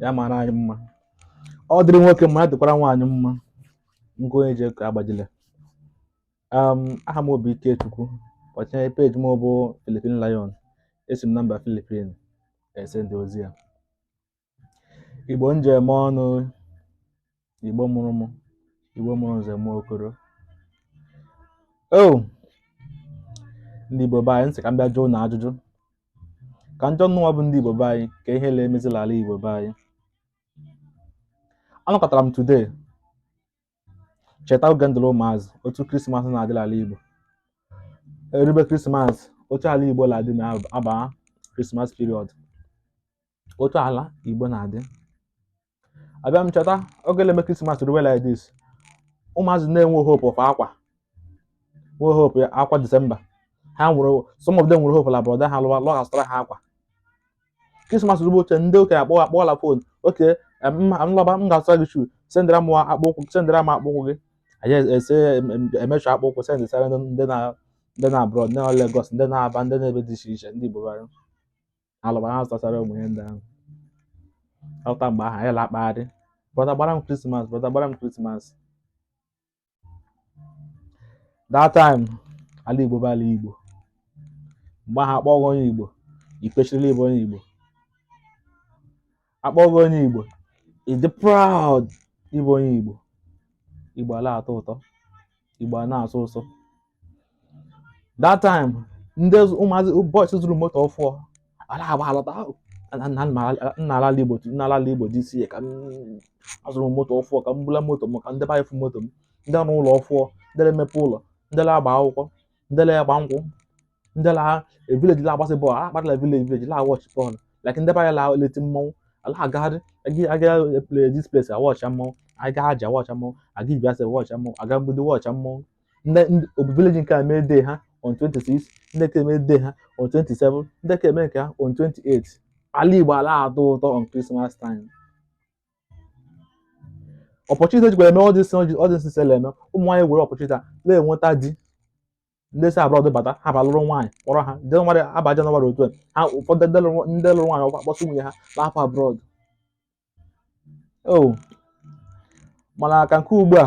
ya mara anyị mma ọ dịrị nwoke mma ya dịkwara nwaanyị mma nke onye ji ka agbajile um, aha m bụ ikechukwu ọchịnye peji m bụ Philippine Lion esi m na mba Philippine esend ozi a igbo njem ọnụ Igbo mụrụ mụ, Igbo mụrụ nze mụọ okoro. O oh! ndị Igbo be anyị nsị ka m bịa jụọ ụnụ ajụjụ ka m jụọ ụnụnwa bụ ndị Igbo be anyị kee ihe la-emezi la ala Igbo be anyị. Anọkatara m today cheta oge m dịrị ụmụazị otu krismas na-adị la ala Igbo erube krismas otu ala Igbo na-adị ma a baa krismas period otu ala Igbo na-adị abịa m cheta oge na-eme krismas ruwe like this ụmụazị na-enwe hope of akwa nwe hope ya akwa disemba ha nwere some of them nwere hope la brọda ha lọwa la ọ ga-azụtara ha akwa krismas ruwe oche ndị okenye akpọ akpọla fon okay m lọba m ga-azụra gị shu sendara m akpụ ụkwụ sendara m akpụ ụkwụ gị anyị ese emecha akpụ ụkwụ sendesara ndị nọ ndị nọ abroad ndị nọ Lagos ndị nọ Aba ndị nọ ebe dị iche iche ndị Igbo bara alọba ha zụtachara ụmụ ihe ndị ahụ alọta mgbe ahụ anyị la-akpagharị brọda gbara m krismas brọda gbara m krismas that time ala igbo bụ ala igbo mgbe ahụ a kpọọ gị onye igbo i kwesirila ịbụ onye igbo a kpọọ gị onye Igbo ị dị proud ịbụ onye Igbo Igbo a la-atọ ụtọ Igbo a na-asọ ụsọ that time ndị ụmụazị boys zụrụ moto ọfụọ a la-agba alọta nna ala Igbo nna ala Igbo dị isi ka azụrụ moto ọfụọ ka m bula moto m ka ndị be anyị fụ moto m ndị rụrụ ụlọ ọfụọ ndị na-emepe ụlọ ndị na-agba akwụkwọ ndị la-agba nkwụ ndị la vileji la-agbasị bọọlụ akpatala vileji vileji la-awọchị bọọlụ like ndị be anyị la-eti mmọnwụ a la-agagharị aga play this place awọcha mmọnwụ aga Aji awọcha mmọnwụ aga Ibiaso awọcha mmọnwụ aga mgbidi wọcha mmọnwụ ndị obi vileji nke a mee dee ha on 26 ndị nke a emee dee ha on 27 ndị nke a emee nke ha on 28 ala igbo a la-atọ ụtọ on Christmas time opportunity a jikwa eme ọdịsị ọdịsị sela eme ụmụ nwaanyị were opportunity a na-enweta di ndị si abroad bata ha abịa lụrụ nwaanyị kpọrọ ha jenụwarị aba jenụwarị otu a ha ụfọdụ ndị lụrụ ndị lụrụ nwaanyị ọkwa kpọsị nwunye ha na-apụ abroad o mana ka nke ugbu a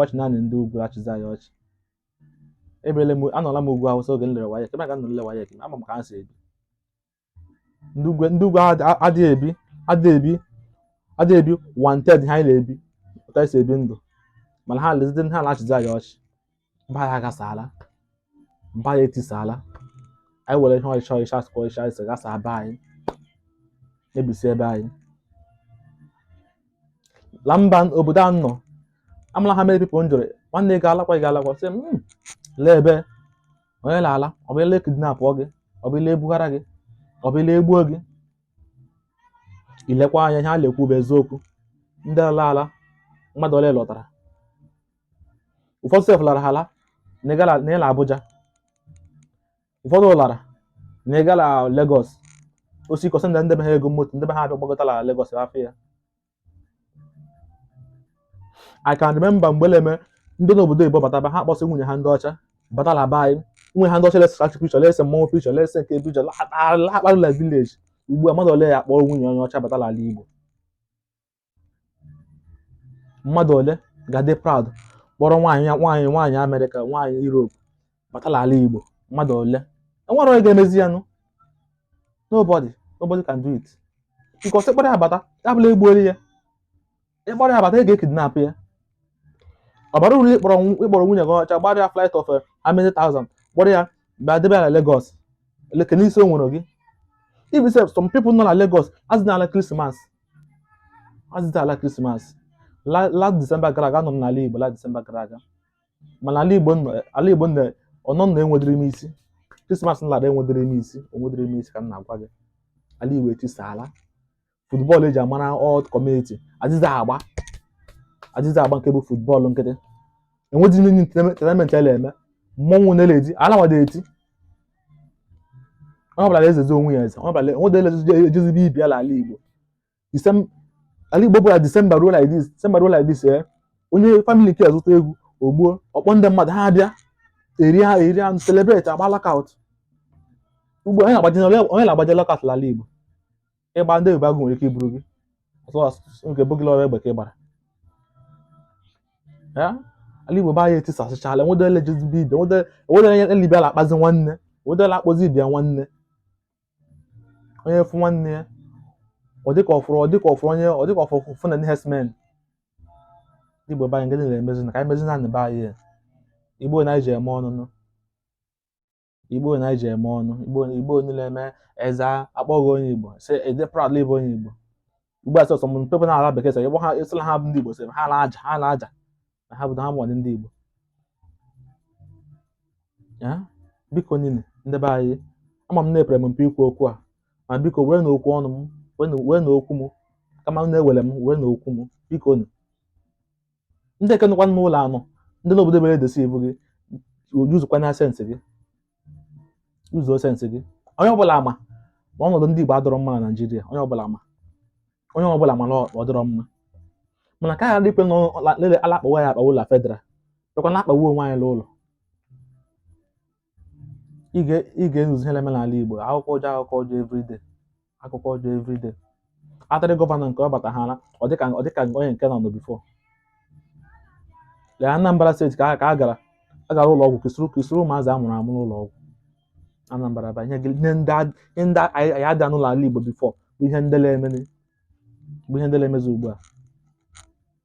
ọchị naanị ndị ugwu achịzi anyị ọchị ebiela m anọla m ugwu awụsa oge m lere WAEC ebe ahụ ka m nọ lee WAEC ama m ka ha si ebi ndị ugwu ndị ugwu adị- adịghị ebi adịghị ebi adịghị ebi one tenth ka anyị na-ebi otu esi ebi ndụ mana ha lezide ha na-achịzi anyị ọchị na be anyị agasaala na be anyị etisaala anyị were ihe ọchịchọ ọchịchọ asụkọ ọchịchọ anyị sị gasa be anyị mebisie be anyị la mba obodo a nọ amara m how many people m jụrụ nwanne ị ga-alakwa ị ga-alakwa sị m hmm, lee ebe onye na-ala ọ bụ ị laa ekidnapụọ gị ọ bụ ị laa ebughara gị ọ bụ ị laa egbuo gị ị lekwa anya ihe a na-ekwu bụ eziokwu ndị ala ala mmadụ ole lọtara ụfọdụ sef lara ala na-ala Abuja ụfọdụ lara na-aga na Lagos o zikọsịa ndị be ha ego moto ndị be ha abịa gbagote na Lagos afụ ya I can remember mgbe ọ na-eme ndị nọ obodo oyibo bataba ha akpọsị nwunye ha ndị ọcha bata la be anyị nwunye ha ndị ọcha la-ese traffic picture la-ese mmọnwụ picture la-ese nke a picture la-akpagharị la village ugbu a mmadụ ole ga-akpọrọ nwunye onye ọcha bata la ala Igbo mmadụ ole ga-adị proud kpọrọ nwaanyị ya nwaanyị nwaanyị amerịka nwaanyị europe bata la ala igbo mmadụ ole enwere onye ga-emezi ya nụ nobody nobody can do it because ị kpọrọ ya abata ya bụ la egbuola ya ị kpọrọ ya abata a ga-ekidnap ya ọ bara uru ịkpọrọ nw- ịkpọrọ nwunye gị ọcha gbara ya flight of eh, how many thousand kpọrọ ya bịa debe ya na Lagos eleke n'isi o nwere gị even sef some people nọ na Lagos azịdị ala krismas azịdị ala krismas La- last December gara aga anọ m n'ala Igbo last December gara aga mana ala Igbo nọ- ala Igbo nọ ọnọ nọ enwedịrị m isi krismas m lara enwedịrị m isi o nwedịrị m isi ka m na-agwa gị ala Igbo etisaala football eji amara all community azịzị agba azịzị agba nke bụ football nkịtị enweghị ihe any entertainment a la-eme mmọnwụ na eledi ala wada eti onye ọbụla na-ezezi onwe ya eze onye ọbụla o nwedị onye la-ejezi be ibe ya ala igbo Disem- ala igbo bụ la disemba ruo like this disemba ruo like this ee onye family nke a zụta eghu o gbuo ọ kpọọ ndị mmadụ ha abịa eri ha eri anụ celebrate agba knockout ugbu a onye na-agbazi onye na-agbazi knockout n'ala igbo ị gbaa ndị Ebubeagụ nwere ike iburu gị ọtụ asụsụ nke bụ gị la ọ bụ egbe ka ị gbara ya ala igbo be anyị etisasịchala enwedere la-ejezi be ibe enwedere enwedere onye ibe ya la-akpọzi nwanne enwedere akpọzi ibe ya nwanne onye fụ nwanne ya ọ dịka ọfụrụ ọ dịka ọfụrụ onye ọ dịka ọfụrụ Fulani herdsmen ndị igbo be anyị nke dị na-emezi na ka anyị mezi na ndị be anyị ya. igbo na anyị ji eme ọnụ nụ igbo na anyị ji eme ọnụ igbo igbo niile mee eze akpọghị onye igbo si ede proud ịbụ onye igbo ugbu a sọsọ m pepe na ala bekee sọ ịgba ha ịsịla ha bụ ndị igbo sị ha na-aja ha na-aja na ha bụ na ha bụ ọdị ndị igbo ya biko nụ ndị be anyị ama m na epere m mpe ikwu okwu a ma biko wee na okwu ọnụ m wee na- wee na okwu m kama m na-ewere m wee na okwu m biko nụ ndị nke nọkwa n'ụlọ anọ ndị n'obodo ebere edesi ebu gị usekwa na sense gị use sense gị onye ọbụla ama ma ọnọdụ ndị Igbo adọrọ mma na Naịjirịa onye ọbụla ma onye ọbụla ma na ọ dọrọ mma mana ka ghara ikwe na lele a la-akpawa ya akpawa la federal bịakwa na-akpawa onwe anyị n'ụlọ ị ga ị ga-anụzi ihe na-eme n'ala Igbo akụkọ ọjọọ akụkọ ọjọọ everyday akụkọ ọjọọ everyday atịrị gọvanọ nke ọ bata ha na ọ dịka ọ dịka onye nke nọ nọ before lee Anambra state ka a ka a gara a gara ụlọ ọgwụ kesịrị kesịrị ụmụazị a mụrụ amụ n'ụlọ ọgwụ Anambra ba ihe gị- ihe ndị a- ihe ndị a- anyị anyị ada anụ l'ala Igbo before bụ ihe ndị na-eme bụ ihe ndị na-emezi ugbu a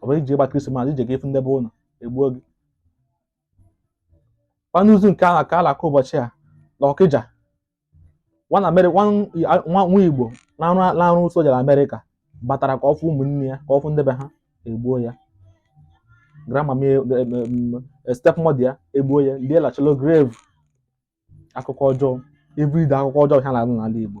ọ bụrụ i je ịgba krismas i je ka ị fụ ndebe unu egbuo gị anụzi nke ahụ ka a la-aka ụbọchị a na ọkịja nwa na Ameri- nwa- a- nwa nwa igbo na-arụ na-arụ soja na amerịka batara ka ọ fụ ụmụnne ya ka ọ fụ ndebe ha egbuo ya grandma m e- em- em- em- stepmother ya egbuo ya lie la shallow grave akụkọ ọjọọ everyday akụkọ ọjọọ ha na-anụ n'ala igbo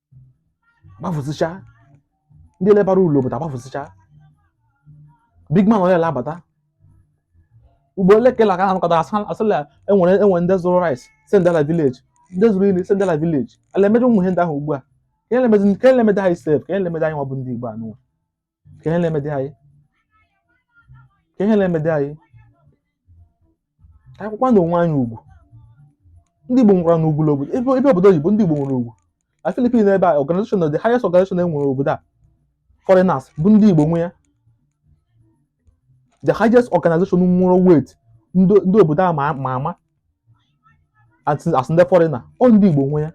gbafụsịcha ndị lebara ụlọ obodo agbafụsịcha big man ole la-abata ugbu a ole kela ka anakọta asala enwere enwe ndị zụrụ rice send la village ndị zụrụ ihe send la village a la-emedu ụmụ ihe ndị ahụ ugbu a kee ihe le-emezi kee ihe le-emedị anyị sef kee ihe le-emedị anyị nwa bụ ndị igbo anụwa kee ihe na-emedị anyị kee ihe na-emedị anyị ka a kwakwanụ onwe anyị ugwu ndị Igbo nwerenụ ugwu n'obodo ebe ebe obodo oyibo ndị Igbo nwere ugwu na Philippines ebe a organization the highest organization e nwere obodo a foreigners bụ ndị Igbo nwe ya the highest organization nwere weight ndị ndị obodo a ma ma ama as as ndị foreigner ọ ndị Igbo nwe ya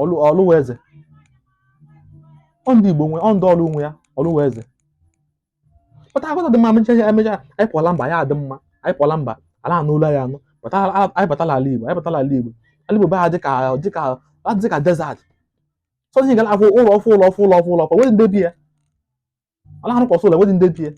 ọlụ ọlụ wụ eze ọ ndị igbo nwe ọ ndị ọlụ nwe ya ọlụ wụ eze pụta agụta dị mma emecha ya emecha anyị pụọla mba ya adị mma anyị pụọla mba a la-anụ olu anyị anyị pụta ala- anyị batala ala igbo anyị batala ala igbo ala igbo bịa dịka dịka dịka desert sọzi ị ga la-afụ ụlọ ọfụ ụlọ ọfụ ụlọ ọfụ ụlọ ọfụ enwee ndị bi ya a na-arụkasị ụlọ enweghị ndị bi ya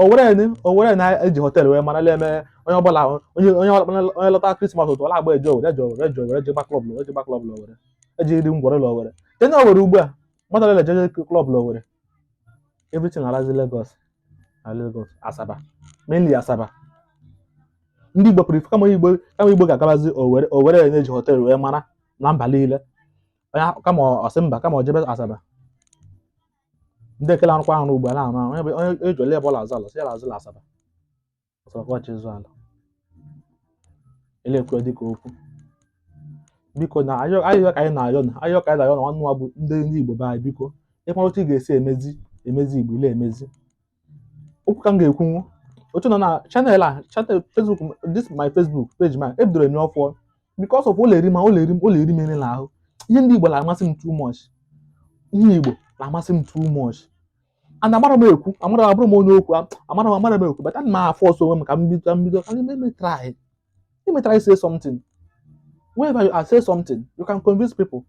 owere ni owere ni e ji họteelụ wee mara na-eme onye ọbụla onye onye ọbụla onye lọta krismas otu ọ na-agba eje owere eje owere eje owere eje gba klọb eje gba klọb owere eje iri ngwọrị ụlọ owere tenye owere ugbu a mmadụ ole eje klọb owere everything alazi Lagos na Lagos Asaba mainly Asaba ndị Igbo pụrụ ife kama Igbo kama Igbo ga-agabazi owere owere na-eji họteelụ wee mara na mba niile onye ahụ- kama ọ sị mba kama ọ jebe asaba ndị ke na-arụkwa arụ ugbu a na-arụ arụ onye bụ- onye eji ole ebe ọ na-azụ ala sị ya na-azụ ala asaba asaba ka ọ chọ ịzụ ala a na-ekwu ya dịka okwu biko na ayịyọ ka anyị na-ayọ na ayọ ka anyị na-ayọ na nwanne nwa bụ ndị ndị igbo be anyị biko ị mara otu ị ga-esi emezi emezi igbo ị na-emezi okwu ka m ga-ekwunwu otu a na channel a channel facebook m- this my facebook page ma ebidoro enye ọfụọ because of ọ na-eri m ọ na-eri m ọ na-eri m eri n'ahụ ihe ndị igbo na-amasị m too much ihe igbo na-amasị m too much and amara m ekwu amara m abụrọ m onye okwu a- amara m amara m ekwu but ana m a-force onwe m ka m bido ka m bido ka m eme try eme try say something whenever you are say something you can convince people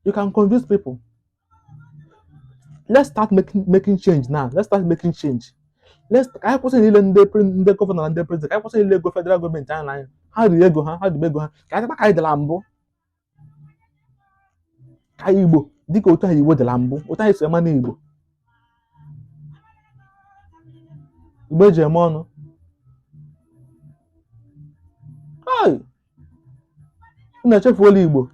you can convince people let's start making making change now let's start making change let's ka anyị kwụsị ile ndị pre- ndị gọvanọ na ndị prezident ka anyị kwụsị ile ego federal gọọmenti anyị na anyị ha riri ego ha ha ribe ego ha ka anyị dịkwa ka anyị dị na mbụ ka anyị igbo dịka otu anyị igbo dị na mbụ otu anyị si ama na igbo igbo eji eme ọnụ Hey! unu echefuola igbo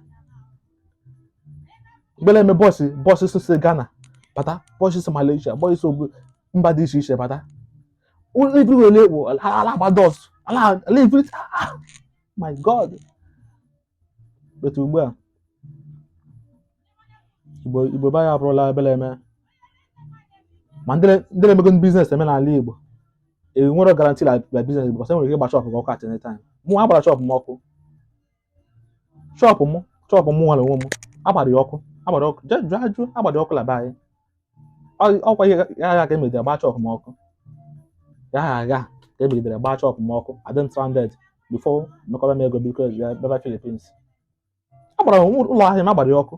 mgbe ọ na-eme boys boys si si ghana bata boys si malaysia boys si ogo- mba dị iche iche bata ụlọ everywhere ekpo ala a na-agba dọs ala ala every ah, ah, my god but ugbu a Igbo Igbo be anyị abụrụla ebe a na-eme ma ndị na- ndị na-eme ego ndị biznes men n'ala Igbo enwerọ garanti na na biznes Igbo cos enwere ike ịgba shọpụ gị ọkụ at any time mụ agbara shọpụ m ọkụ shọpụ mụ shọpụ mụ nwa onwe m agbara ya ọkụ agbara ọkụ je jụọ ajụ agbara ya ọkụ n'abanị Ọ- ọkwa ihe ya agha ka emegidere gbaa shọpụ m ọkụ ya agha agha ka emegidere gbaa shọpụ m ọkụ adị m stranded before mekọrọ m ego biko bịa bịaba Philippines agbara ụlọ ahịa m agbara ya ọkụ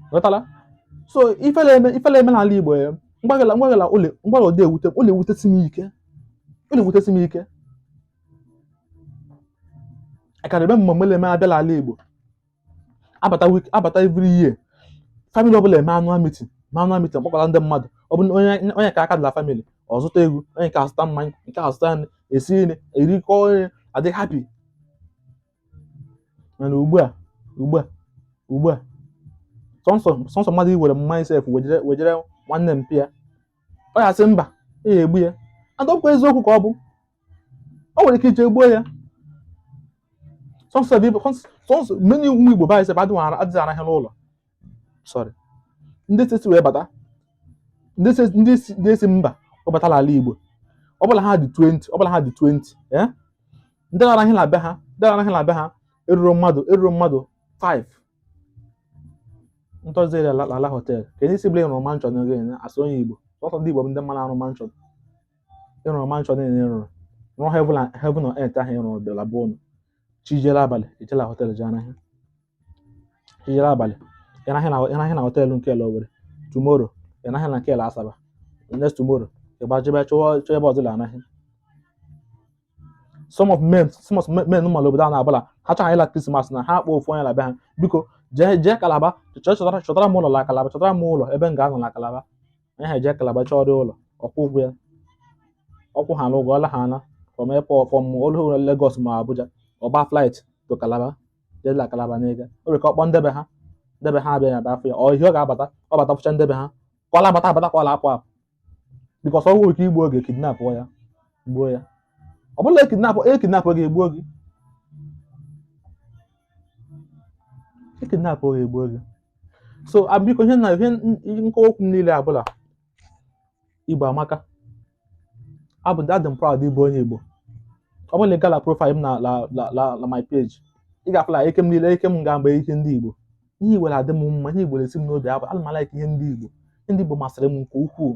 ịghọtala so ife na-eme ife na-eme n'ala igbo ya mgbagala mgbagala ụlọ mgbagala ọ na-ewute ọ na-ewutesi m ike ọ na-ewutesi m ike a kara eme mmemme na-eme abịa n'ala igbo abata wik abata every year family ọbụla eme annual meeting annual meeting mkpọkọta ndị mmadụ ọ bụ na onye onye ka aka dị na family ọ zụta ewu onye nke azụta mmanya nke azụta nri esi nri erikọ nri adị happy mana ugbu a ugbu a ugbu a sọnsọ sọnsọ mmadụ iwere mma sef wejere wejere nwanne mpa ya ọ ya asị mba e ya egbu ya ọ dịkwa eziokwu ka ọ bụ o nwere ike ije gbuo ya sọnsọ bụ ibe- sọnsọ so many ụmụ igbo bụ anyị sef adịghị ara- adịghị arahịa n'ụlọ sorry ndị si wee bata ndị si ndị si ndị si mba wee bata l'ala igbo ọ bụla ha dị 20 ọ bụla ha dị 20 eh? ndị la-arahị na be ha ndị la-arahị na be ha eruru mmadụ eruru mmadụ 5 ndị ọzọ ere ala ala họtel ka ndị si bụla ị rụrụ mansion n'oge ya asụ onye igbo sọsọ ndị igbo bụ ndị m ma na-arụ mansion ị rụrụ mansion niile ị rụrụ rụọ heaven and- heaven on earth ahụ ị rụrụ bịara bụ ụnụ chi jie abalị ejee la họtel jee rahịa ijere abalị ya arahịa na ya arahịa na họtel nke la owere tomorrow ya arahịa na nke la asaba next tomorrow ịgbajebe chọwa chọọ ebe ọzọ arahị so many so many mmadụ obodo a na-abụla ha chọrọ ịla krismas na ha akpọ ofu onye la be ha biko jee jee kalaba chọọ chọtara chọtara m ụlọ la kalaba chọtara m ụlọ ebe m ga-anọ na kalaba onye ahụ ejee kalaba chọọ dị ụlọ ọ kwụọ ụgwọ ya ọ kwụchaa na ụgwọ ọla ha na from airport from olu Lagos ma Abuja ọ baa flight to kalaba jedela kalaba n'ego o nwere ka ọ kpọọ nde be ha nde be ha abịa ya bịa afụ ya ọ ihe ọ ga-abata ọ bata fụcha nde be ha ka ọ la-abata abata ka ọ la-apụ apụ because ọ nwere ike igbu oge kidnap ya gbuo ya ọ bụla e kidnap e kidnap gị egbuo gị e kidnap gị egbuo gị so biko ihe na ihe nkọwa okwu m niile bụ la Igbo amaka. Abụ adị m proud ịbụ onye Igbo. Ọ bụrụ na ị gaa la profile m na la la la la my page, ị ga-afụ na ike m niile ike m ga mgbe ihe ndị Igbo. Ihe Igbo na-adị m mma, ihe Igbo na-esi m n'obi abụ ana m alaik ihe ndị Igbo. Ihe ndị Igbo masịrị m nke ukwuu.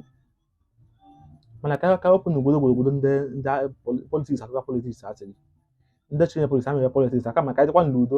Mana ka ka wepụ na obodo obodo ndị ndị politics akụkọ politics asịrị. Ndị tinye politics ha mere politics aka maka ịdịkwa n'udo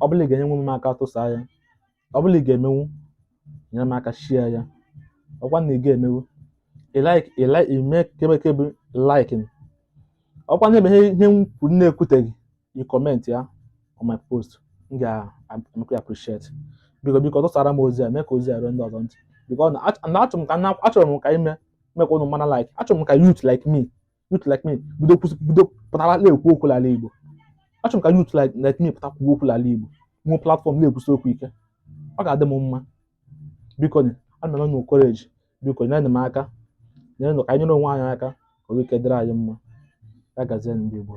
ọ bụla ị ga-enyenwu m aka tụsa ya ọ bụla ị ga-emenwu nyere m aka share ya ọkwa na ị ga-emenwu ị like ị like ị mee kebekebe liking ọkwa na o nwee ihe ihe m kwuru na-ekwuteghị ị comment ya on my post m ga-emekwa ya appreciate biko biko tụsara m ozi a mee ka ozi a ruo ndị ọzọ ntị biko na achọrọ m ka na- achọrọ m ka m mee ka ụnụ mara like achọrọ m ka youth like me youth like me bido kwusi bido pụtara na-ekwu okwu n'ala Igbo achọrọ m ka youth like like me pụta kwuo okwu n'ala Igbo nwee platform na-ekwusi okwu ike ọ ga-adị m mma biko nye ana m enye courage biko nyere m aka nyerenụ ka anyị nyere onwe anyị aka ka o nwee ike dịrị anyị mma ya gazie ndị Igbo